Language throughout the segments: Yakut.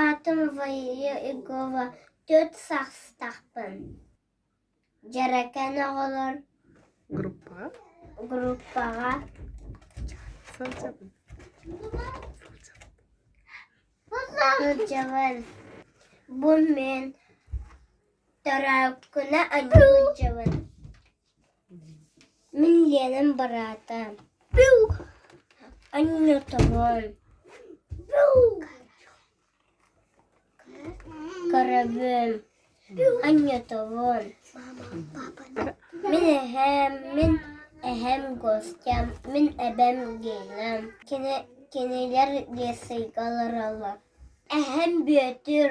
Аатым Валерия Егова Төрт саастаахпын Дьэрэкээн оҕолор группаҕа сылдьабын Бу мин төрөөккүнэ адьыгын Мин Ленам быраата Аннотовой Корабым Аннотовой Мин эһэм, мин эһэм Костям, мин эбэм Гелям Кинилэр Лесыйга олороллор Эһэм Бүөтүр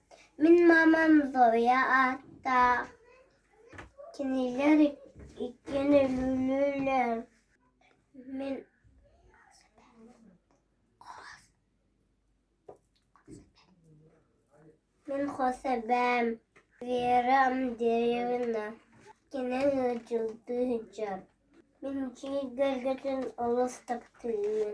Мин маамам Зоя ааттаах, кинилэр иккиэн өлүүлүүллэр. Мин мин хос эбээм Вера Амдеевна, кини ыалдьылыы сылдьар. Мин дьиэ кэргэтин олус таптыырым